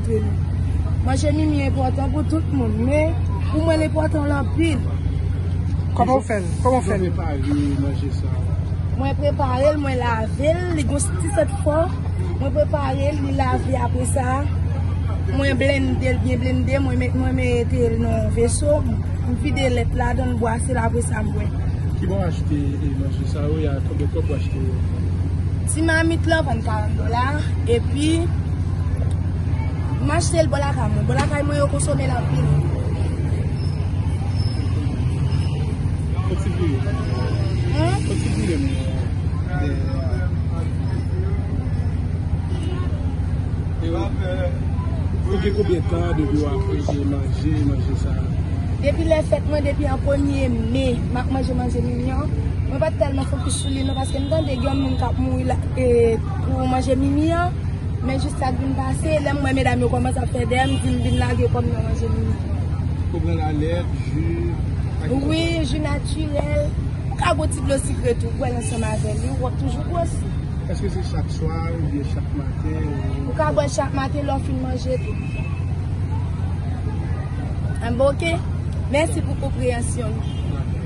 respekte nou. Manje mimi enpòtan pou tout moun men pou mwen l enpòtan l anpil. Kòman ou fè l? Kòman ou fè l? Mwen prepare manje sa. Mwen prepare l, mwen lave l, li gons ti sèt fò. Mwen prepare l, li lave apre sa. Mwen blende l, byen blende, mwen mete l nan veso. Mwen vide lèt la, dan mwen bwase l apre sa mwen. Ki bon achte manje sa ou ya? Kòman ou achte yo? Ti mamit lan vann 40 dola epi m achte l bò lakay mwen. Bò lakay mwen yo konsome l anpil. Depi lè fèt mwen, depi an premye me, m ap manje manje mignon. Mwen pa t tèlman fokis sou li. Paske m tande gen yon moun kap mouri la e pou manje mimi an, men jis sa k vin pase, lè m wè medam yo kòmanse ap fè dèyè m di m vin lage kò m nan manje mimi an. Ou pran lalèt, ju, ak ki lòt? Wi, ju natirèl, ou ka bwè ti dlo sikre tou, bwè l ansanm avè li, wap toujou gwosi. Eske se chak swa oubyen chak maten ou? Ou ka bwè l chak maten lè w fin manje tou. Anben ok, mèsi pou konpreyansyon w. Dakò.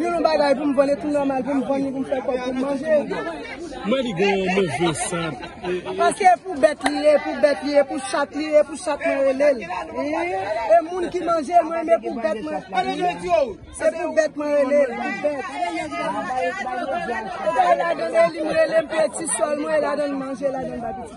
Yon lon bagay pou m vann e tou nòmal pou m vann li pou m fè kòb pou m manje. Mwen li gen yon move sant. Paske e pou bèt li ye, e pou bèt li ye, e pou chat li ye, e pou chat mwen rele l. E moun ki manje l mwen men pou bèt mwen. Se pou bèt mwen rele l, pou bèt. Mwen la dan e li m rele m peye ti sòl mwen e la dan manje la dan ba piti.